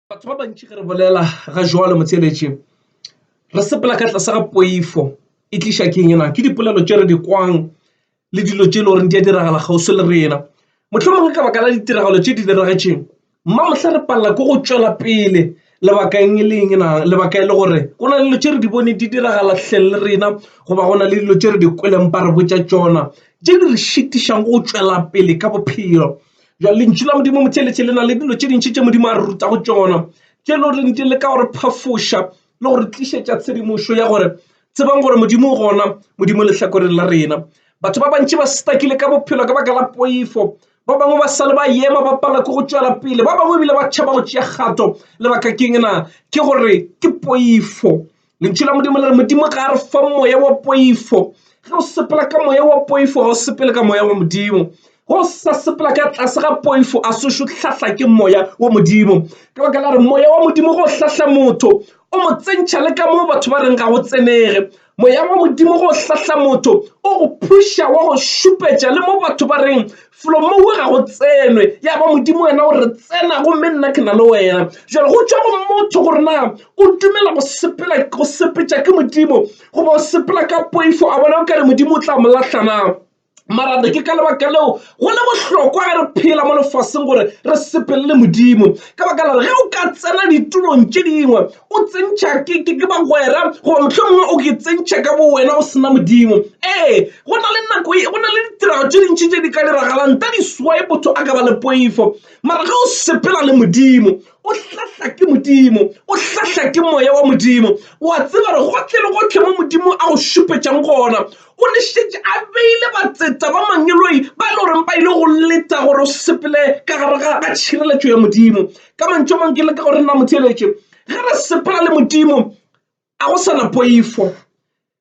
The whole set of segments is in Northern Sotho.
batho ba bantši ge re bolela ga jwalo motheeletše re sepela ka tlase ga poifo e tliša keng yena ke dipolelo tše re di kwang le dilo tše e le goreng di a diragala kgauswi le rena mohlomongwe ka baka la ditiragalo tše di diragetseng mma mohla re palela ko go tšwela pele lebakeng e leng na lebaka e le gore go na le dilo tše re di bone di diragala tlheng le rena goba go na le dilo tše re di kweleng ba re botša tšona tše di re šitišang go tšwela pele ka bophelo Bjale lentšu la Modimo motheeletše le na le dilo tše dintši tše Modimo a re rutago tšona tše le goreng di le ka gore phafoša le gore tlišetša tshedimošo ya gore tsebang gore Modimo o gona Modimo lehlakoreng la rena. Batho ba bantši ba stakile ka bophelo ka baka la poifo ba bangwe ba sale ba yema ba pala ke go tšwela pele ba bangwe ebile ba tšhaba go tšea kgato lebaka keng na ke gore ke poifo Lentšu la Modimo le re Modimo ga a re fa moya wa poifo ge o sepela ka moya wa poifo ga o sepele ka moya wa Modimo go sa sepela ka tlase ga poifo a sešo hlahla ke moya wa Modimo ka baka la re moya wa Modimo go hlahla motho o mo tsentšha le ka moo batho ba reng ga go tsenege moya wa Modimo go hlahla motho o go phuša wa go šupetša le mo batho ba reng felo moo ga go tsenwe ya ba modimo wena o re tsena gomme nna ke na le wena jalo go tšwa go motho gore na o dumela go sepela go sepetša ke modimo goba o sepela ka poifo a bona o kare modimo o tla mo lahlana marate ke ka lebaka leo go le bohlokwa ge re phela mo lefaseng gore re sepelele modimo ka baka la re ge o ka tsena ditulong tše dingwe O tsentšha ke ke ke bagwera goba mohlomongwe o ke tsentšha ka bo wena o sena Modimo. Ee, go na le nako e, go na le ditirago tše dintši tše di ka diragalang nta di swae motho a ka ba le poifo. Mara ge o sepela le Modimo, o hlahla ke Modimo, o hlahla ke Moya wa Modimo, o a tseba gore gohle le gohle mo Modimo a go šupetšang gona, o ne šetše a beile batseta ba mangeloi ba e le goreng ba ile go leta gore o sepele ka gare ga tšhireletšo ya Modimo. ka mantšu a mangwe ke leka gore nna motheeletše ge re sepela le modimo a go sana poifo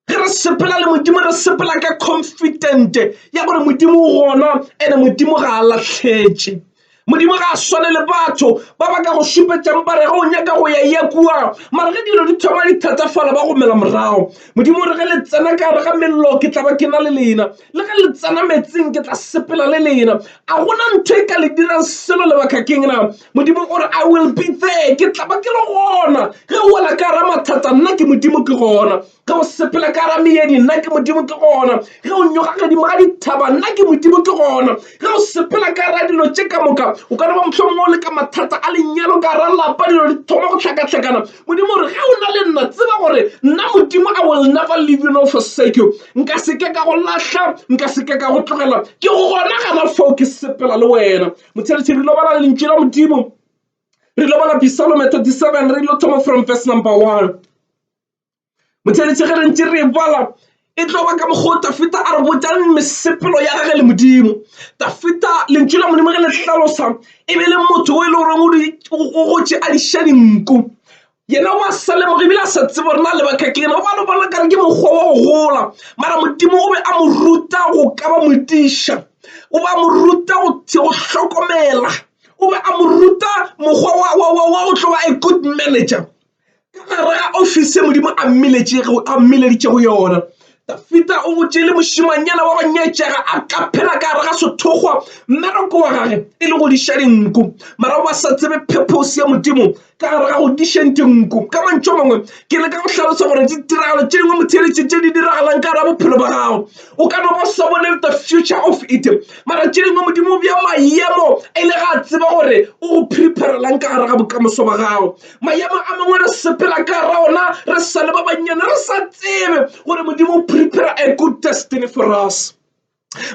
ge re sepela le modimo re sepela ka confident ya gore modimo o gona ene modimo ga a latlhetše modimo ga a swane le batho ba ba ka go šupetšang ba re ge o nyaka go ya ya kua mara ge dilo di thoma di thatafala ba gomela morago modimo re ge le tsena ka re ga mello ke tla ba ke na le lena Le ge le tsena meetseng, ke tla sepela le lena. A go na ntho e ka le dirang selo lebakakeng na? Modimo o re, I will be there. Ke tla ba ke le gona. Ge o wela ka gara mathata, nna ke Modimo ke gona. Ge o sepela ka gara meedi, nna ke Modimo ke gona. Ge o nyoga godimo ga dithaba, nna ke Modimo ke gona. Ge o sepela ka gara dilo tše ka moka, o ka no ba mohlomongwe o le ka mathata a lenyalo, ka gara lapa, dilo di thoma go hlakahlakana. Modimo o re, ge o na le nna, tseba gore nna Modimo I will never leave you nor forsake you. Nka se ke ka go lahla, nka se ke ka go tlogela. Ke gona gana fao ke sepela le wena. Motšheletše re lo bala lentšu la Modimo. Re lo bala Psalm 37 re lo thoma from verse number 1. Motšheletše ge re ntše re e bala, e tlo ba ka mokgwa wo Dafida a re botšang mesepelo ya gage le Modimo. Dafida, lentšu la Modimo ge le hlalosa, e be le motho o e le goreng o gotše a diša dinku. Yena o a sa lemoga ebile a sa tsebe gore na lebaka ke eng. O bale o bona nkare ke mokgwa wa go gola, mara Modimo o be a mo ruta go ka ba modiša. O be a mo ruta go hlokomela, o be a mo ruta mokgwa wa go tlo ba a good manager. ka gare ga ofisi ye modimo a mmileditšego yona dafita o botše le mošimanyana wa go nyetšega a ka phela ka gare ga sethokgwa mmereko wa gage e le go diša dinku mara ba sa tsebe phephosi ya modimo ka gare ga go dišeng dinku ka mantšho mangwe ke le ka go hlalosa gore ditiragalo tše dingwe motheletše tše di diragalang ka gare ga bophelo ba gago o ka no ba sa bone the future of it mara tše dingwe modimo bja maemo e le ga tseba gore o go preparelang ka gare ga bokamoso ba gago Maemo a mangwe re sepela ka gare ona re sa le ba bannyane, re sa tsebe gore Modimo o prepare a good destiny for us.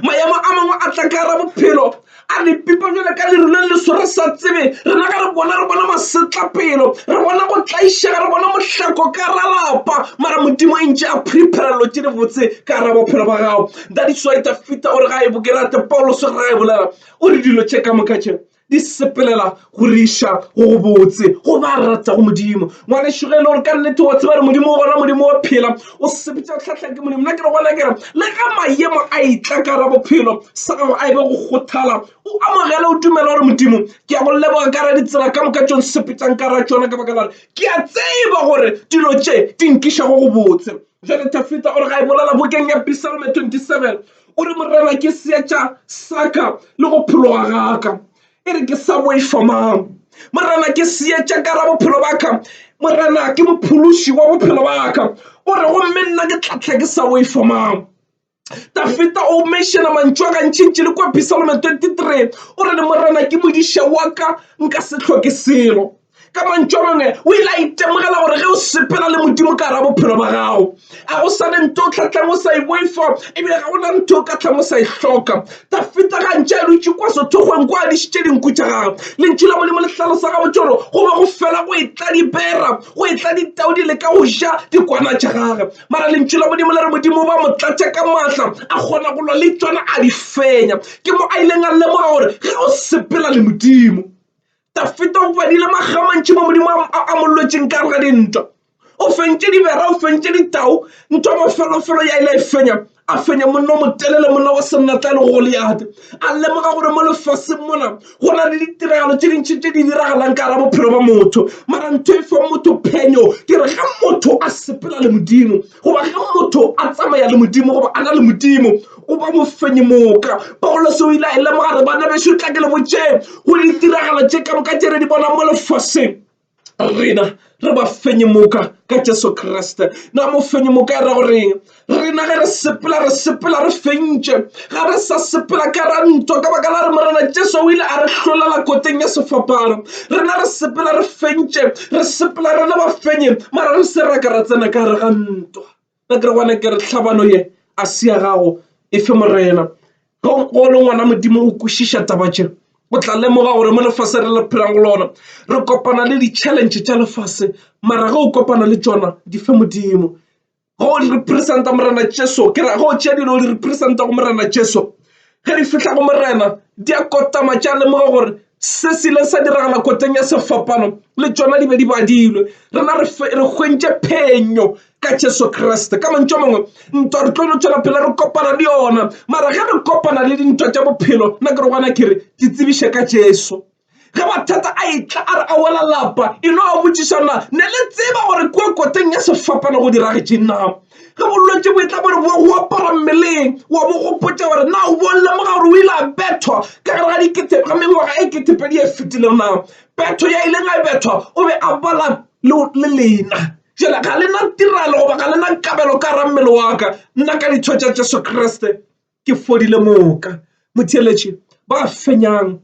Maemo a mangwe a tla ka gare bophelo a re pipa jale ka leru le leso re sa tsebe rena ga re bona re bona masetlapelo re bona go tlaišega re bona mohlako ka ra lapa mara modimo e ntše a prepare lo tše di botse ka ra bophelo ba gago that is why tafita o re ga e bokerate paulos o re ga e bolela o re dilo tše ka moka tše Di sepelela go re iša go go botse go ba ratago Modimo. Ngwanešu ge e le gore ka nnete wa tseba re Modimo o gona, Modimo wa phela, o sepetša go hlahla ke Modimo. Nna ke re gona ke re le ge mayemo a itla ka ra bophelo sa gago a e be go kgothala, o amogele o dumela gore Modimo ke a go leboga ka ra ditsela ka moka tšong sepetšang ka ra tšona ka baka la re ke a tseba gore dilo tše di nkiša go go botse. Bjale Tafita o re ga e bolela bokeng ya Pisalme 27, o re, Morena ke seetša saka le go phologa gaka, e re ke sa boifa mang? Morena ke seetša ka ra bophelo baka, Morena ke mophološi wa bophelo baka. O re, Gomme nna ke tla tla ke sa boifa mang? Dafita o mešena mantšu a gantšintši le kua Psalme 23 o re le Morena ke modiša wa ka nka se hloke selo. Ka mantšu a mangwe o ile a itemogela gore ge o sepela le Modimo ka ra bophelo ba gago a go sa ne nto o tlhatlang o sa e boifa ebile ga gona ntho o ka tlang o sa e hloka. Dafita gantši a dutše kwa sethokgweng kwa a dišitše dinku tša gagwe lentšu la Modimo le hlalosa gabotse gore go be go fela go e tla dibera go etla ditau di leka go ja dikwana tša gage mara lentšu la modimo le re modimo ba mo tlatša ka maatla a kgona go lwa le tsona a di fenya ke mo a ileng a lemoga gore ge o sepela le modimo dafeta o badile magamantši mo modimo a mo lwetseng ka re ga dintwa o fentše dibera o fentše ditau ntho mafelofelo ya ile e fenya a fenye monna o motelele monna wa sennatla le goliate a lemoga gore mo lefaseng mona go na le ditiragalo tse dintšhi tse di diragalang ka gara bophelo ba motho mara ntho e fang motho phenyo ke re ga motho a sepela le modimo goba ga motho a tsamaya le modimo goba a na le modimo o ba mofenyi moka paulose o ile a e lemoga re bana bešo tla ke le botšee go ditiragalo tše ka moka tše re di bonang mo lefaseng rena re ba fenye moka ka jesu kriste na mo fenye moka e ra goreng rena ge re sepela re sepela re fentše ga re sa sepela ka ra ntwa ka baka la re morena jesu o ile a re hlolela koteng ya sefapano rena re sepela re fentše re sepela re le ba fenye mara re se ra ka ra tsena ka gare ga ntwa Ba ke re gona ke re tlhabano ye a se ya gago e fe Morena. Ge o le ngwana Modimo o kwešiša taba tše, o tla lemoga gore mo lefase re le phelang go lona re kopana le di-challenge tša lefase mara ge o kopana le tšona di fe Modimo. Ge o di representa Morena Jesu ke ra ge o tšea dilo o di representa go Morena Jesu, Ge re fihla go Morena, diakotama tša lemoga gore se se ile sa diragala koteng ya sefapano le tšona di be di badilwe. Rena re hwentše phenyo ka Jesu Kriste. Ka mantšu a mangwe, ntwa re tlo no tšwela pele re kopana le yona, mara ge re kopana le dintwa tša bophelo, nna ke re gona ke re di tsebiše ka Jesu. ge mathata a etla a re a wela lapa e no a botšišana ne le tseba gore kua koteng ya sefapano go diragetše na ge bolwetse bo etla bore bo go apara mmeleng wa bo gopotsa gore na o bo lemoga gore o ile a bethwa ka gare ga dikete ga mengwaga e ketepedi e fetileng na betho ya ileng a bethwa o be a bala le le lena jale ga lena tirelo goba ga lena kabelo ka ra mmele wa ka nna ka ditho tša jesu kriste ke fodile moka. Motheeletši, Ba fenyang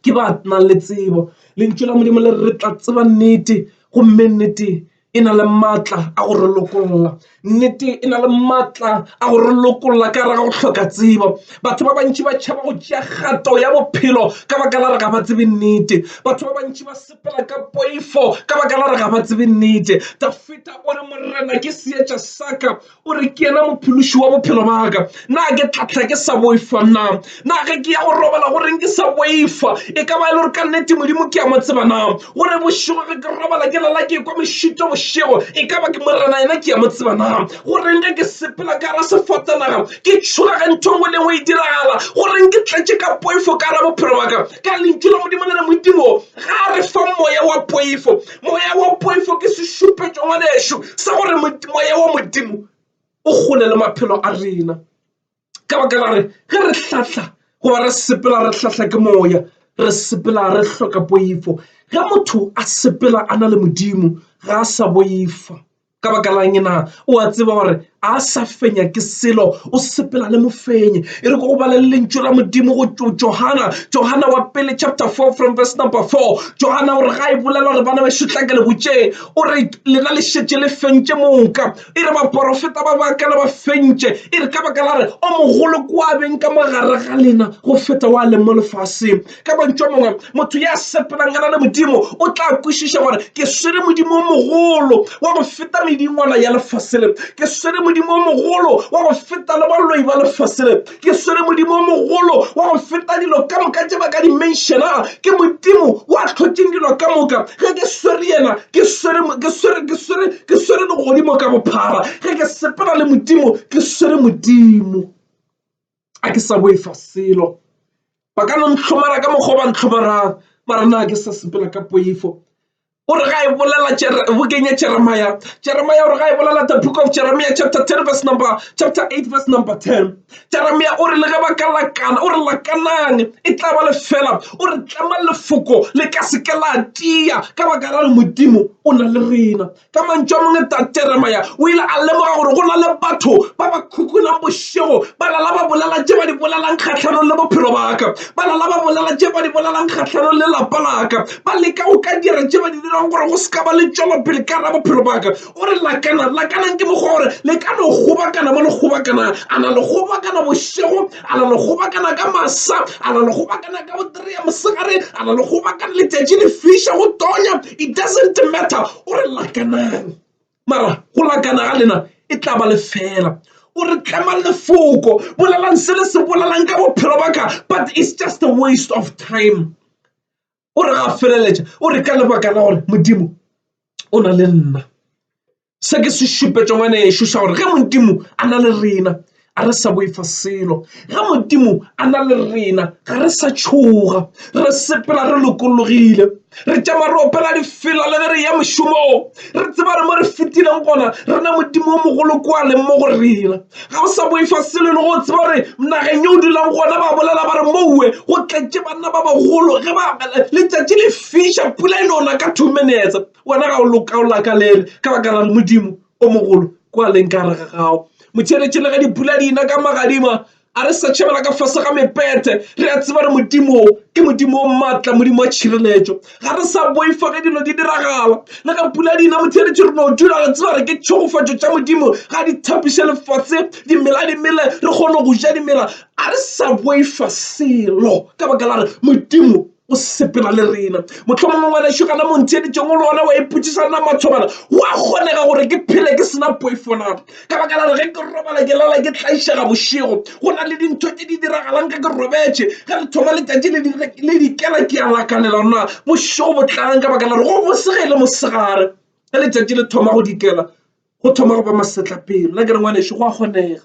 ke ba nang le tsebo. Lentšu la Modimo le re re tla tseba nnete, gomme nnete e na le maatla a go re lokolla. Nnete e na le maatla a go re lokolla ka gare ga go hloka tsebo. Batho ba bantši ba tšhaba go tšea kgato ya bophelo ka baka la gore ga ba tsebe nnete. Batho ba bantši ba sepela ka poifo ka baka la gore ga ba tsebe nnete. Dafita o re, Morena ke seetša sa ka. o re ke yena mophološi wa bophelo baka na ke tlatla ke sa boifa na na ge ke ya go robala go reng ke sa boifa e ka ba e le gore ka nnete modimo ke ya mo tseba na gore bošego ge ke robala ke lala ke kwa mešito bošego e ka ba ke morena yena ke ya mo tseba na go reng ge ke sepela ka ra sefatanaga ke tšhoga ge ntho ngwe le ngwe e diragala go reng ke tletše ka poifo ka ra bophelo baka ka lentšu la modimo le re modimo ga re fa moya wa poifo Moya wa poifo ke sešupetšo ngwanešu sa gore moya wa Modimo o gole le maphelo a rena ka baka la re ge re hlahla goba re sepela re hlahla ke moya re sepela re hloka poifo ge motho a sepela a na le Modimo ga a sa boifa. Ka baka la'ng na? O a tseba gore a sa fenya ke selo, o sepela le mofenyi. E re ko go bala le lentšu la Modimo go Johana, Johana wa pele chapter 4 from verse number 4. Johana o re ga e bolela gore bana bešo tla ke le botšeng, o re lena le šetše le fentše moka. E re baporofeta ba baka le ba fentše, e re ka baka la re o mogolo kwa beng ka mogare ga lena go feta wa leng mo lefaseng. ka mantšo mongwe motho ya sepelangana le modimo o tla kwešiša gore ke swere modimo o mogolo wa go feta medingwana ya lefasele ke swere modimo o mogolo wa go feta le baloi ba lefasele ke swere modimo o mogolo wa go feta dilo ka moka tše ba ka dimensiona ke modimo wa tlhotseng dilo ka moka ge ke swere yena ke swere ke swere ke swere ke swere legodimo ka bophara ge ke sepela le modimo ke swere modimo a ke sa boifa selo ba ka no ntlhomara ka mokgwa ba ntlhomarang ba re na ke sa sepela ka poifo o re ga e bolela bokeng ya jeremaya jeremaya o re ga e bolela the book of jeremia chapter 10 verse number chapter 8 verse number 10 jeremia o re le ge ba ka lakana o re lakanang e tla ba lefela o re tlama lefoko le ka seke la tia ka baka la re modimo o na le rena Ka mantšu a mangwe, Tate Jeremia o ile a lemoga gore go na le batho ba ba khukulang bošego, ba lala ba bolela tše ba di bolelang kgahlanong le bophelo ba ka, ba lala ba bolela tše ba di bolelang kgahlanong le lapa la ka, ba leka go ka dira tše ba di dirago gore go se ka ba le tšwelopele ka gare ga bophelo ba ka. O re, Lakanang, lakanang ke mokgwa gore le ka no kgobakana mo le kgobakanang. A na le kgobakana bošego? a la le kgobakana ka masa a la le kgobakana ka botere ya mosegare a la le kgobakana letšatši le fiša go tonya it doesn't matter o re lakanang mara go lakana ga lena e tla ba lefela o re tlemang lefoko bolelang se le se bolelang ka bophelo ba ka but it's just a waste of time o re a feleletša o re ka lebaka la gore modimo o na le nna se ke se šupetša ngwana ešo sa gore ge modimo a na le rena a re sa boifa selo ge modimo a na le rena ga re sa tšhoga re sepela re lokologile re tšama re opela difela le ge re ya mošomong re tseba re mo re fetileng gona re na modimo o mogolo kwa leng mo go rena ga o sa boifa selo e le go tseba gore nageng yo o dulang gona ba bolela ba re moue go tletše banna ba bagolo ge ba letšatši le fiša pula e nona ka two minutes wena ga o lokaola ka lele ka baka la re modimo o mogolo kua leng ka rega gago motšheletšhele ge dipula di ina ka magadima a re sa tšhabela ka fase ga mepete re a tseba re modimo ke modimo o maatla modimo wa tšhireletšo ga re sa boifa ge dilo di diragala le ga pula dina motheletše re no dula re tseba re ke tšhegofatšo tša modimo ga di thapiše lefatshe dimela di mele re kgone go ja dimela a re sa boifa selo ka baka la re modimo o sepela le rena motlhomong ngwanešo kana montheeditšong o le gona wa ipotšiša na matshobana wa kgonega gore ke phele ke sena poifo na ka baka la gore ge ke robala ke lala ke tlaišega bošego go na le dintho tse di diragalang ka ke robetše ge re thoma letšatši le dikela ke ya lakalela na bošego bo tlang ka baka la gore go bosega e le mosegare ge letšatši le thoma go dikela go thoma go ba masetlapelo la ke re ngwaneso go a kgonega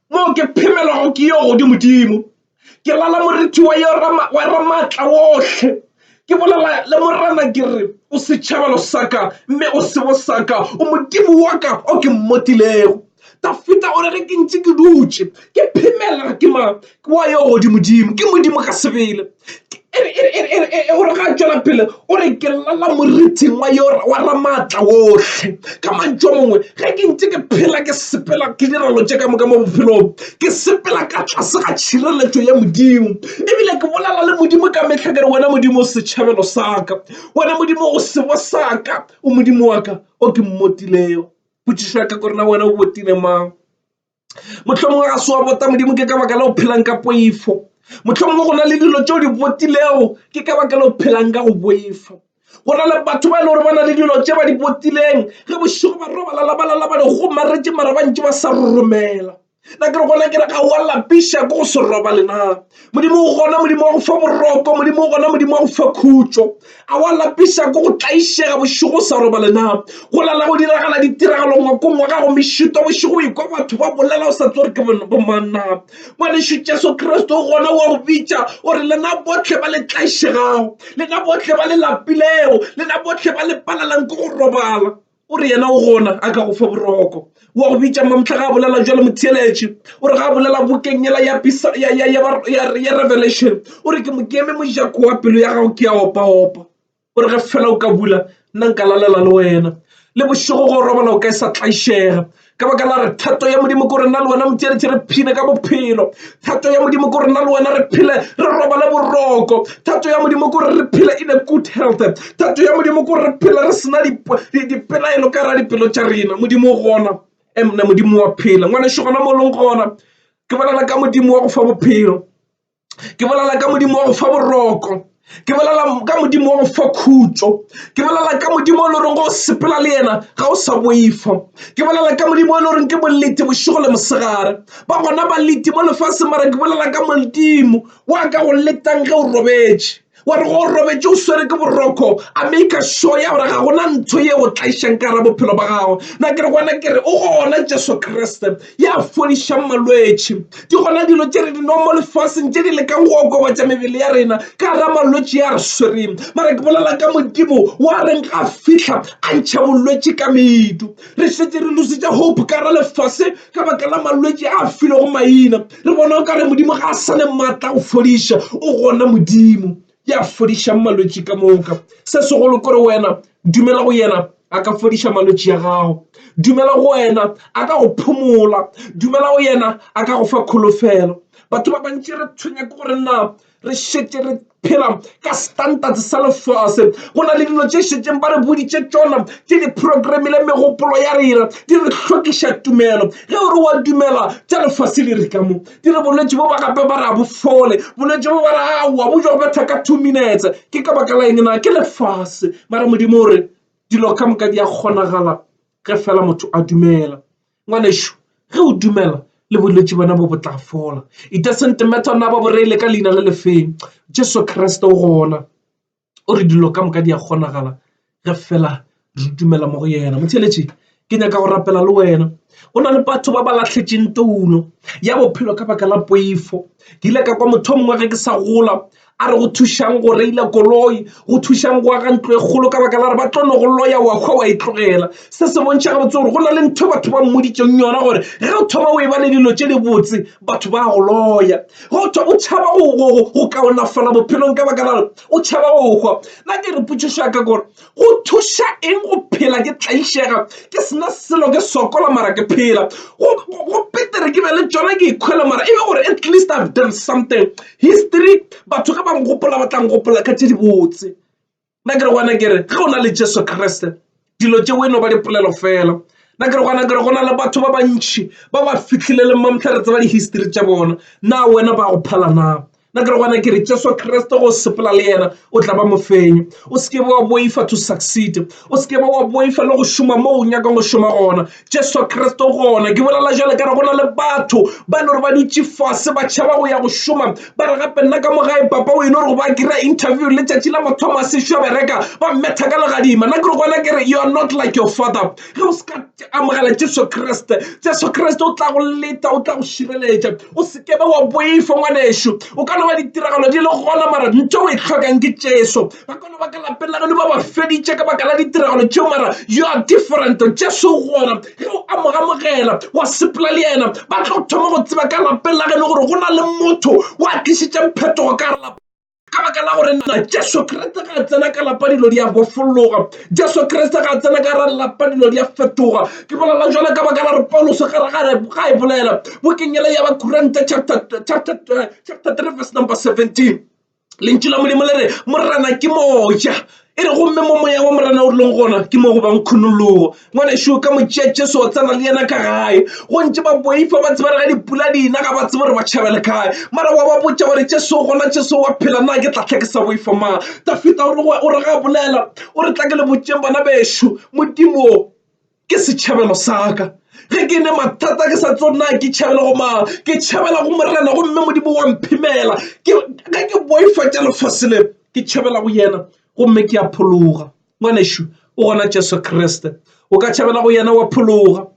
Moo ke phemelago ke yo godimodimo, ke lala morithi wa Ramaatla wohle, ke bolela le Morena ke re, O setšhabelo sa ka, mme o sebo sa ka, o Modimo wa ka o ke mmotilego. Dafida o re, Ge ke ntše ke dutše ke phemela ke mang? Ke wa yo godimodimo, ke Modimo ka sebele. o re ga a tšwela pele o re ke llela moriting wa yo wa ramaatla ohle ka mantšu a mangwe ge ke ntše ke phela ke sepela ke direlo tše ka moka mo bophelong ke sepela ka tlase ga tšhireletšo ya Modimo ebile ke bolela le Modimo ka mehla ke re wena Modimo setšhabelo sa ka wena Modimo o sebo sa ka o Modimo wa ka o ke mmotilego potšišo ya ka ke gore na wena o botile mang? mohlomongwe ga se wa bota modimo ke ka baka la go phelang ka poifo mohlomongwe go na le dilo tšeo di botilego ke ka baka la go phelang ka go boifo go na le batho ba e le gore ba na le dilo tše ba di botileng ge bošego ba robalalabalalaba di gomaretše mara ba ntše ba sa romela na ke re gona ke re ga wa lapiša ko go se robalena modimo o gona modimo wa go fa boroko modimo o gona modimo wa go fa khutšo a wa lapisa ko go tlaišega bošego sa robale na go lala go diragala ditiragalo ngwakong wa gago mešito bošego ikwa batho ba bolela o sa tse gore ke bomanna ngwanešu jesu kriste o gona wa go bitša o re lena botlhe ba le tlaišegago lena botlhe ba le lapilego lena botlhe ba le palelang ko go robala o re yena o gona a ka go fa boroko wa go bitša mamhla ga a bolela jalo motheeletše o re ga a bolela bokeng yela ya pisa ya ya ya ba- ya ya revelation o re ke mo keme mojako wa pelo ya gago ke ya opaopa o re ge fela o ka bula nna nka lalela le wena le bošego go robala o ka e sa tlaišega ka baka la re thato ya modimo ko rena le wena motšeretšhe re phile ka bophelo thato ya modimo ko rena le wena re phile re robale boroko thato ya modimo ko re phile in a good health thato ya modimo ko re phile re sena dipelaelo ka ra dipelo tša rena modimo gona emna modimo wa phela ngwaneso gona mo leng gona ke bolela ka modimo wa go fa bophelo ke bolela ka modimo wa go fa boroko ke bolela ka modimo wa go fa khutšo ke bolela ka modimo o le goreng go sepela le yena ga o sa boifa ke bolela ka modimo o le goreng ke bolete bošego le mosegare ba gona baleti mo lefase mara ke bolela ka modimo wa ka go letang ge o robetše wa re go robetše o swere ke boroko a maker sure ya gore ga gona ntho ye o tlaišang ka ra bophelo ba gago na ke re gona ke re o gona jesu kriste ya fodišang malwetši di gona dilo tše re di nwa mo lefaseng tše di lekang go okobatša mebele ya rena ka ra malwetši ya re swereng mara ke bolela ka modimo wa reng ga fihla a ntšha bolwetši ka medu re šetse re lusitše hope ka ra lefase ka baka la malwetši a filego maina re bona o ka re modimo ga a sa le maatla go fodiša o gona modimo ya fodišang malwetši ka moka se segolo kore wena dumela go yena a ka fodiša malwetši ya gago dumela go wena a ka go phomola dumela go yena a ka go fa kholofelo batho ba bantši re tshwenya ke gore na re šetše re phela ka standard sa lefase go na le dilo tše šetšeng ba re boditše tšona ke diprograme le megopolo ya rena di re hlokiša tumelo ge o re wa dumela tša lefase le re ka mo di re bolwetši bo ba gape ba re a bofole bolwetši bo ba re a wa bo jo betha ka two minutes ke ka baka la eng na ke lefase mara modimo o re dilo ka moka di a kgonagala ge fela motho a dumela Ngwanešu, ge o dumela, le bolwetši bona bo bo tla fola. It doesn't matter na ba bo reile ka leina le le feng. Jesu Kriste o gona. O re dilo ka moka di a kgonagala ge fela re dumela mo go yena. Motheeletši, ke nyaka go rapela le wena. Go na le batho ba ba lahletšeng toulo ya bophelo ka baka la poifo. Ke ile ka kwa motho o mongwe ge ke sa gola A re go thušang go reila koloi, go thušang go aga ntlo e kgolo ka baka la re ba tlo no go loya wa hwa wa e tlogela. Se se bontšha gabotse gore go na le ntho batho ba mmoditšeng yona gore ge o thoma o e ba le dilo tše di botse batho ba go loya. Ge o thwa o tšhaba go go go kaonafala bophelong ka baka la re o tšhaba go hwa. Na ke re potšišo ya ka gore Go thuša eng go phela ke tlaišega ke sena selo ke sokola mara ke phela? Go, go, go petere ke be le tšona ke ikhwela mara e be gore at least I've done something. History batho ge ba ngopola ba tla ngopola ka tše dibotse. Nna ke re gona ke re ge o na le Jesu Kriste dilo tšeo e no ba dipolelo fela. Nna ke re gona ke re go na le batho ba bantši ba ba fihlileng mamtlha re tseba di-history tša bona. Na wena ba go phala na? na ke re gona ke re jesu kriste go sepela le yena o tla ba mofenyo o se ke wa boifa to succeed o se ke wa boifa le go šoma mo o nyakang go šoma gona jesu kriste gona ke bolela jale ka re go na le batho ba e le gore ba dutše fase ba tšhaba go ya go šoma ba re gape nna ka mogae papa o e le gore ba kry-a interview le tšatši la mathomo a sešo bereka ba mmetha ka legadima nna ke re gona ke re you are not like your father ge o se ka amogela jesu kriste jesu kriste o tla go leta o tla go šireletša o se kebe wa boifa ngwanešu o ka no ba ditiragalo di le gona mara ntho o e tlhokang ke jesu ba kone ba ka lapeng la geno ba ba feditše ka baka la ditiragalo tšeo mara you are different jesu gona ge o amogamogela wa sepela le yena ba tlo thoma go tseba ka lapeng la geno gore go na le motho wa tlišitšeng phetogo ka lapa ka baka la gore na jesu kriste ga a tsena ka lapa dilo di a bofologa jesu kriste ga a tsena ka ra lapa dilo di a fetoga ke bolela jale ka baka la re paulos ga e bolela bokenyela ya bakuranta chapter 3 verse number 17 lentšu la modimo le re morena ke moja E re gomme mo moya wa Morena o rileng gona ke mo go bang khunologo. Ngwanešu ka mo tšea Jesu o tsena le yena ka gae. Go ntše ba boifa ba tsebare ga dipula di na ga ba tsebe gore ba tšhabele kae. Mara wa ba botša gore Jesu gona Jesu wa phela na ke tla tlha ke sa boifa mang. Dafita o re ga a bolela o re tla ke le botšeng bana bešo Modimo. ke setšhabelo sa ka ge ke ne mathata ke sa tsona ke tšhabela go mang ke tšhabela go morena gomme modimo wa mphimela ge ke boifa tša lefase le ke tšhabela go yena gomme ke a phologa ngwanešu o gona jesu kriste o ka tšhabela go yena wa phologa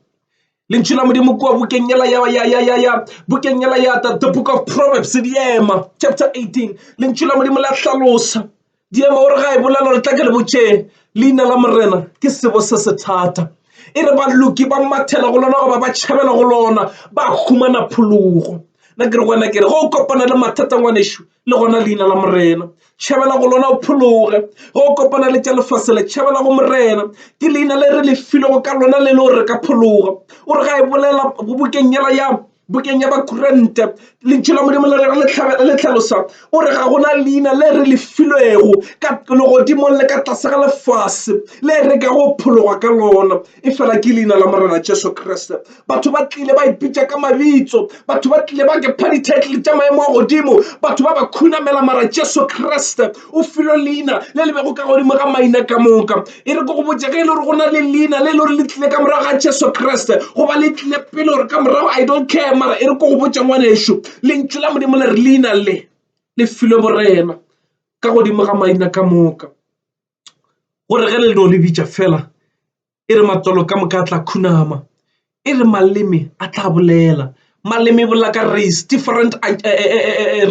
lentšu la modimo kua bokeng ela ya ya ya ya ya bokeng ela ya the book of proverbs di ema chapter 18 lentšu la modimo la hlalosa Diema o re ga e bolela gore tla ke le botšeng leina la Morena ke sebo se se thata. E re baloki ba mathela go lona goba ba tšhabela go lona ba humana phologo. Na ke re wena ke re go kopana le mathata ngwanešu le gona leina la Morena tšhabela go lona o phologe go kopana le tša lefase le tšhabela go Morena ke leina le re le filego ka lona le le gore re ka phologa o re ga e bolela bokeng yela ya Bukeng ya Bakorinte, Lentšu la Modimo le le hlalosa, o re, Ga go na leina le re le filwego ka legodimong le ka tlase ga lefase le re ka go phologwa ka lona efela ke leina la Morena Jesu Kriste. Batho ba tlile ba ipitša ka mabitso, batho ba tlile ba ke pha di-title tša maemo a godimo, batho ba ba khunamela, mara Jesu Kriste o filwe leina le le bego ka godimo ga maina ka moka e re ko go botse ge e le gore go na le leina le e le gore le tlile ka morago ga jesu kriste goba le tlile pele gore ka morago i don't care mara e re ko go botse ngwaneso lentšu la modimo le re leina le le filwe borena ka godimo ga maina ka moka gore ge le no le bitša fela e re matswalo ka moka a tla khunama e re maleme a tla bolela maleme bolela ka race different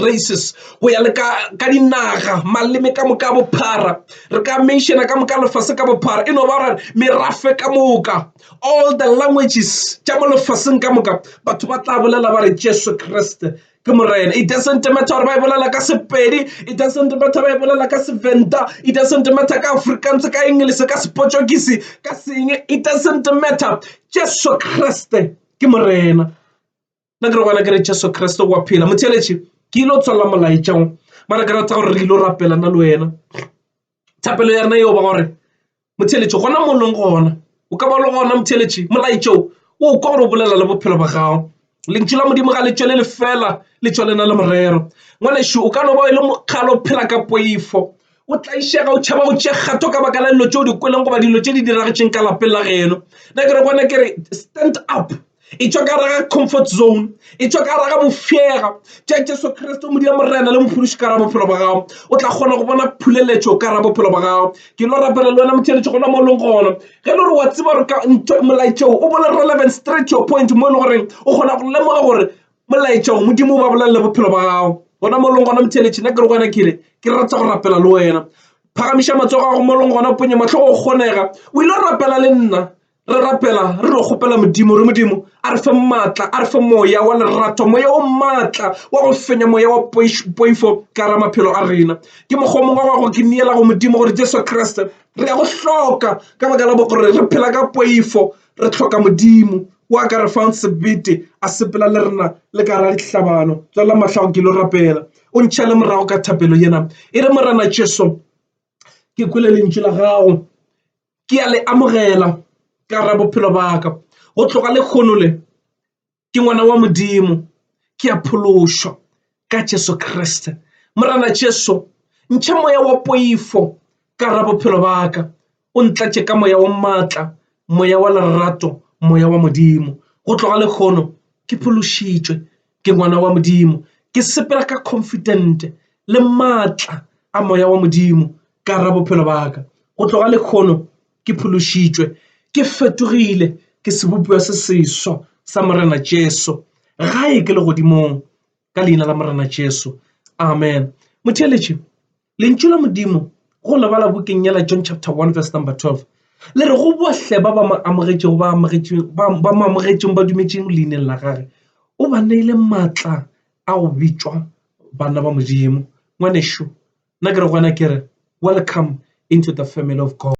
races go ya le ka ka dinaga maleme ka moka bophara re ka mentiona ka moka lefase ka bophara e no ba gore merafe ka moka all the languages tša mo lefaseng ka moka batho ba tla bolela ba re Jesu Kriste ke morena it doesn't matter gore ba e bolela ka sepedi it doesn't matter ba e bolela ka seventa it doesn't matter ka afrikaans ka english ka sepotšokisi ka seng it doesn't matter jesu kriste ke morena nna ke re gona ke re jesu kriste wa phela motheletše ke ile o tswalela molaetšang mara ke rata gore re ile o rapela nna le wena Thapelo ya rena eo ba gore motheletši gona mollong gona o ka ba le gona motheletši molaetšo o kwa gore o bolela le bophelo ba gago lentšu la modimo ga le tšwele le fela le tšwele na le morero ngwanešu o ka no ba e le mokgalo o phela ka poifo o tlaišega o tšhaba go tše kgatho ka baka la dilo tšeo di kweleng goba dilo tše di diragetšeng ka lapeng la geno na kere gona ke re stand up e tšwa ka raga comfort zone e tšwa ka raga bofega tša jesu kriste modia morena le mophološi ka ra bophelo ba gago o tla kgona go bona phuleletšo ka ra bophelo ba gago ke lo rapela le wena motheletše gona mo e leng gona ge le gore wa tseba gore ka molaetšeo o bole relevant straight your point mo e le goreng o kgona go lemoga gore molaetšeo modimo o ba bolelele bophelo ba gago gona mo e leng gona motheletše nna ke re gona kele ke rata go rapela le wena phagamiša matsogo a go mo e leng gona ponye matlhogo go kgonega o ile go rapela le nna re rapela re no kgopela modimo re modimo a re fe maatla a re fe moya wa lerato moya o maatla wa go fenya moya wa poifo ka ra maphelo a rena ke mokgwa mongwe wa go ke neela go modimo gore jesu kriste re ya go hloka ka baka la bo gore re phela ka poifo re tlhoka modimo wa ka re fang sebete a sepela le rena le ka ra dihlabano tswela matlhago ke lo rapela o ntšha le morago ka thapelo yena e re morena jesu ke kwele lentšu la gago ke a le amogela ka ra bophelo ba ka go tloga le kgono le ke ngwana wa modimo ke a phološwa ka Jesu Kriste morana Jesu ntšha moya wa poifo ka ra bophelo ba ka o ntlatše ka moya wa maatla moya wa lerato moya wa modimo go tloga le kgono ke phološitšwe ke ngwana wa modimo ke sepela ka confident le maatla a moya wa modimo ka ra bophelo ba ka go tloga lekgono ke phološitšwe ke fetogile ke sebopiwa se seswa sa morena jesu gae ke le godimong ka leina la morena jesu amen motheletše Lentšu la Modimo go leba la bukeng ya la John chapter 1 verse number 12 le re go bohle ba ba mo amogetšego ba amogetšeng ba ba mo amogetšeng ba dumetšeng leineng la gage o ba neile maatla a go bitšwa bana ba Modimo ngwanešu nna ke re gona ke re welcome into the family of God.